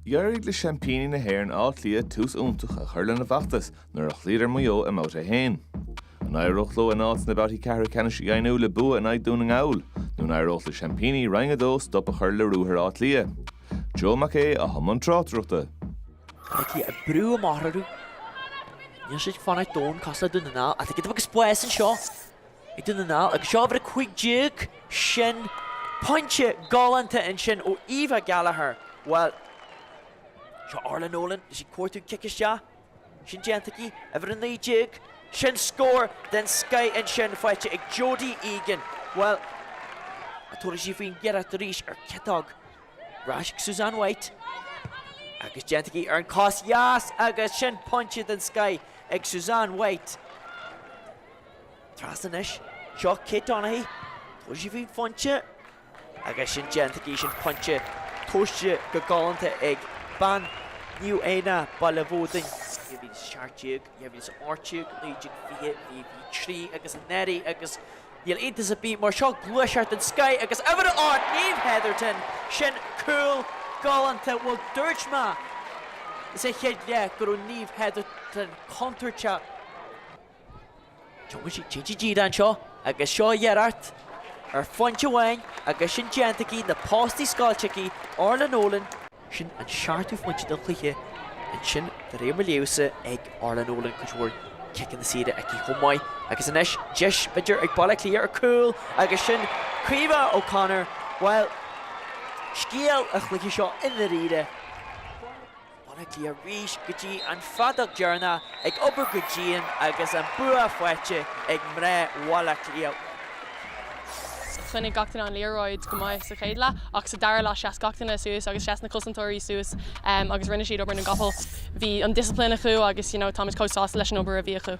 D'éirigh le seaimpíní na hÉireann Áth Cliath tús iontach a chur lena bhfeachtas nuair a chloíodar Maigh Eo i mBabhta 1. An éireodh leo a n-áit sna babhtaí ceathrú ceannais a dheimhniú le bua in aghaidh Dhún na nGall, nó an éireodh le seaimpíní Roinn 2 stop a chur le ruathar Átha Cliath? Joe Mac Aodha atá i mbun tráchtaireachta. Áth Cliath ag brú amach orthu. Níl siad ag fanacht domhain cosúil le Dún na nGall, ach ag déanamh agus buíochas anseo! Ag Dún na nGall agus uimhir 15, sin pointe galánta ansin ó Eva Gallagher, bhuel, seo Orlagh Nolan is í ag cuartú cic isteach, sin déanta aici, uimhir 19, sin scór den scoith ansin faighte ag Jodie Egan, bhuel, an dtabharfaidh sí faoin iarracht arís ar ciotóg, ar ais ag Susanne White, agus déanta aici ar an chos dheas agus sin pointe den scoith ag Susanne White. Trasna anois, seo Kate Donaghy, tabharfaidh sí faoin phointe agus sin déanta aici, sin pointe tomhaiste go galánta ag bean Naomh Éanna, Baile Bhuadáin. 2017, 2018, 19, 20, 23 agus anuraidh agus níl iontas ar bith mar seo gluaiseacht den scoith agus uimhir a 8 Niamh Hetherton, sin cúl galánta, bhuel dúirt mé sa chéad leath go raibh Niamh Hetherton contúirteach. Tiocfaidh sí tríd an D anseo agus seo iarracht ar phointe amháin agus sin déanta aici, na postaí scoilte aici Orlagh Nolan, sin an seachtú phointe den chluiche, ansin de réir mo léamhsa ag Orlagh Nolan cuid mhór ciceanna saora aici chomh maith agus anois deis b'fhéidir ag Baile Átha Cliath ar chúl agus sin Caoimhe O'Connor, bhuel scéal an chluiche seo i ndairíre. Baile Átha Cliath arís go dtí an feadóg dheireanach ag obair go dian agus an bua faighte ag mná Bhaile Átha Cliath. Choinnigh gach duine an liathróid go maith sa chéad leath ach sa dara leath sheas gach duine suas agus sheas na cosantóirí suas agus rinne siad obair na gcapall. Bhí an discipline acu agus you know táimid chomh sásta leis an obair a bhí acu.